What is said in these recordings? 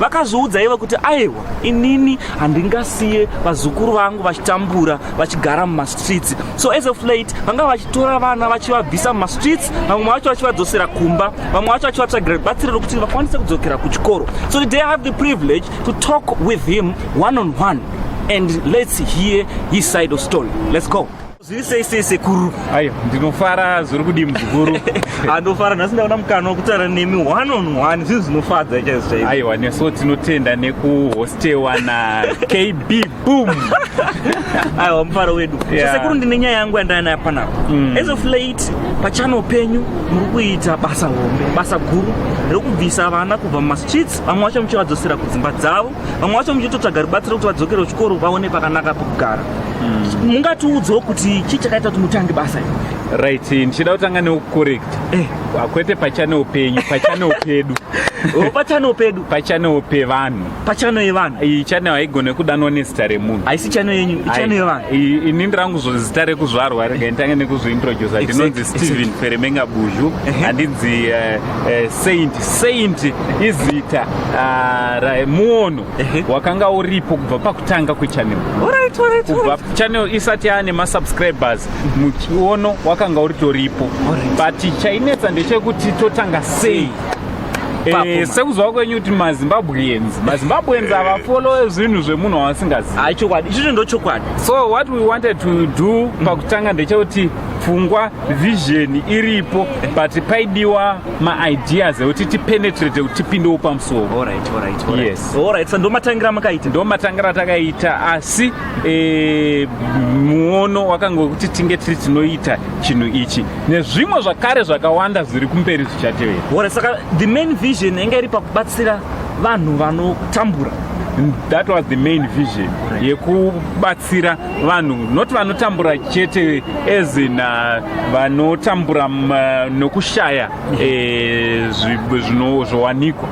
vakazviudza ivo kuti aiwa inini handingasiye vazukuru vangu vachitambura vachigara mumastreets so as of late vanga vachitora vana vachivabvisa mumastreets vamwe vacho vachivadzosera kumba vamwe vacho vachivatsvagira batsiriro kuti vakwanise kudzokera kuchikoro so today i have the privilege to talk with him one on one and let's hear his side of story let's go Zviri sei sei sekuru? Ayo, ndinofara zviri kudii muzukuru? Andofara nhasi ndaona mukana wekutaura nemi one on one zvinhu zvinofadza chaizvo chaizvo. Aiwa nesu tinotenda nekuhostewa na KB Boom. Aiwa mufaro wedu. Yeah. Sekuru ndine nyaya yangu yandaya nayo panapa. Mm. As of late pachano penyu muri kuita basa hombe, basa guru rekubvisa vana kubva mumastreets, vamwe vacho muchivadzosera kudzimba dzavo, vamwe vacho muchitotsvaga rubatsiro kuti vadzokere kuchikoro vaone pakanaka pokugara. mungatiudzewo kuti chii chakaita kuti mutange basa iri right ndichida kutanga neucorrect eh. kwete pachanewo penyu pachanewo pedu oh, pachanewo pedu pachanewo pevanhu pachano yevanhu iyi chanewo haigone kudanwa nezita remunhu haisi chano yenyu ichano yevanhu ini ndirangu zita rekuzvarwa rega nditange nekuzviintrodusa ndinonzi stephen feremenga buzhu handinzi eh, eh, saint saint izita ah, muono wakanga uripo kubva pakutanga kwechannel kubva channel isati yaane masubscribers muchiono wakanga uritoripo but chainetsa ndechekuti totanga sei Eh, sekuziva kwenyu kuti mazimbabweans mazimbabweans avafolowe zvinhu zvemunhu waasingazivi ah, chokwadi ichocho ndo chokwadi so what we wanted to do pakutanga ndechekuti pfungwa vision iripo but paidiwa maideas ekuti tipenetrate kuti tipindewo pamusoro yes sa ndomatangira makaita ndomatangira takaita asi e, muono wakanga wekuti tinge tiri tinoita chinhu ichi nezvimwe zvakare zvakawanda zviri kumberi zvichatevera orit saka the main vision yanga iri pakubatsira vanhu vanotambura that was the main vision yekubatsira vanhu not vanotambura chete ezin uh, vanotambura mm, uh, nokushaya eh, zvowanikwa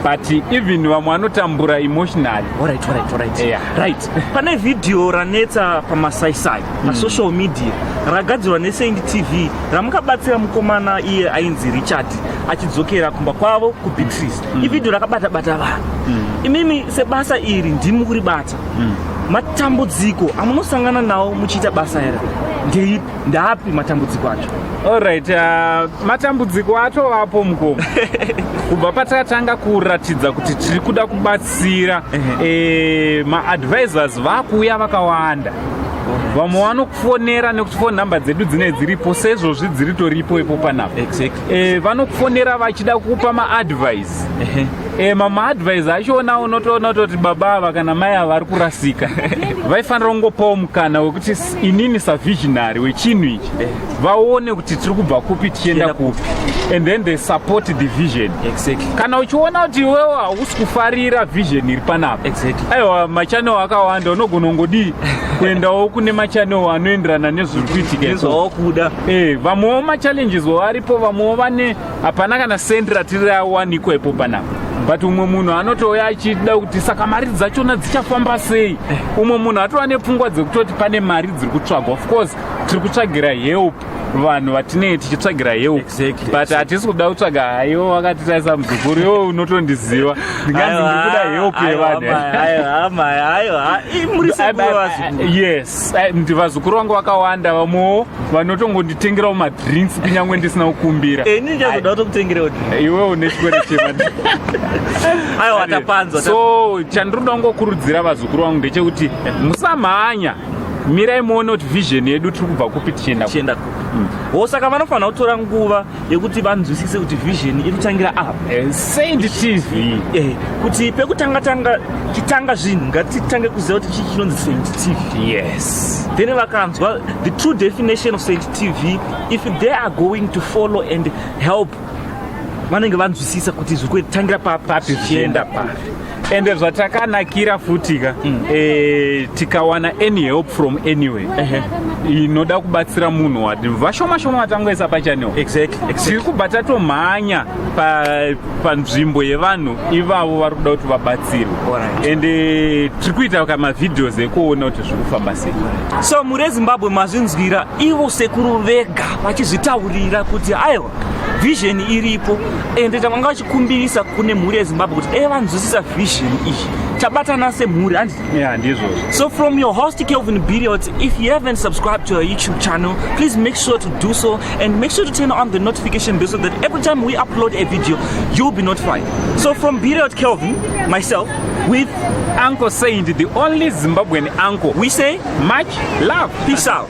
but even vamwe vanotambura emotionally right, right, right. Yeah. right pane vhidhiyo ranetsa pamasaisai hmm. pasocial mm. media ragadzirwa nesaint tv ramukabatsira mukomana iye ainzi richard achidzokera kumba kwavo kubeatrice mm. ivhidhiyo rakabatabata vanhu mm. imimi sebasa iri ndimi kuribata mm. matambudziko amunosangana nawo muchiita basa here ndeipi ndaapi matambudziko acho allright uh, matambudziko atovapo mukoma kubva patakatanga kuratidza kuti tiri kuda kubatsira e, maadvisors vakuuya vakawanda vamwe vanokufonera nekuti fone number dzedu dzine dziripo seizvozvi dziritoripo ipo panapa eh, vanokufonera vachida kukupa maadvice advice eh, mama advice acho ona unotoona kutoti baba ava kana mai ava vari kurasika vaifanira kungopawo mukana wekuti inini savisionary wechinhu ichi eh. vaone kuti tiri kubva kupi tichienda kupi and then they support the vision exactly. kana uchiona kuti iwewo hausi kufarira vision iri panapa exactly. aiwa machanel akawanda unogona ungodii kuendawo kune machanel anoenderana nezviri kuitika izvawakuda eh, vamwewo machallenges wavaripo vamwewo vane hapana kana sendi ratiri rawanikwa ipo panapa but umwe munhu anotouya achida kuti saka mari dzachona dzichafamba sei umwe munhu atova nepfungwa dzekutoti pane mari dziri kutsvagwa of course tiri kutsvagira help vanhu vatinei tichitsvagira help exactly, but hatisi kuda kutsvaga haiwo wakatitarisa muzukuru yo unotondiziva ndinganzi ndikuda help yevanhu yes and vazukuru vangu vakawanda vamwewo vanotongonditengerawo madrinks kunyange ndisina kukumbira ini eh, ndichazoda kutokutengerewo iwe une chikwere cheaiwa tapanzwa so chandinoda kungokurudzira vazukuru vangu ndechekuti musamhanya mirai muone kuti vision yedu tiri kubva kupi tichienda tichienda kupi mm. wo saka vanofanira kutora nguva yekuti vanzwisise kuti vision iri kutangira apa eh, saint tv eh, kuti pekutanga tanga chitanga zvinhu ngatitange kuziva kuti chii chinonzi saint tv yes then vakanzwa the true definition of saint tv if they are going to follow and help vanenge vanzwisisa kuti zviri kutangira papi zvichienda papi ende zvatakanakira futi ka mm. e, tikawana any help from anywhere uh -huh inoda kubatsira munhu wati vashoma shoma vatangoisa pachanel exactly tiri kubva tatomhanya panzvimbo pa yevanhu ivavo vari kuda kuti vabatsirwe right. and eh, tiri kuita ka mavideos ekuona kuti zviri kufamba sei so mure zimbabwe mazvinzwira ivo sekuru vega vachizvitaurira kuti aiwa vision iripo ende tanga vachikumbirisa kune mhuri yezimbabwe kuti dai vanzwisisa vision iyi tabatana semhuri handi yeah, ndizvo so from your host kelvin biriot if you haven't subscribed to our youtube channel please make sure to do so and make sure to turn on the notification bell so that every time we upload a video you'll be notified so from biriot kelvin myself with uncle saint the only zimbabwean uncle we say much love peace out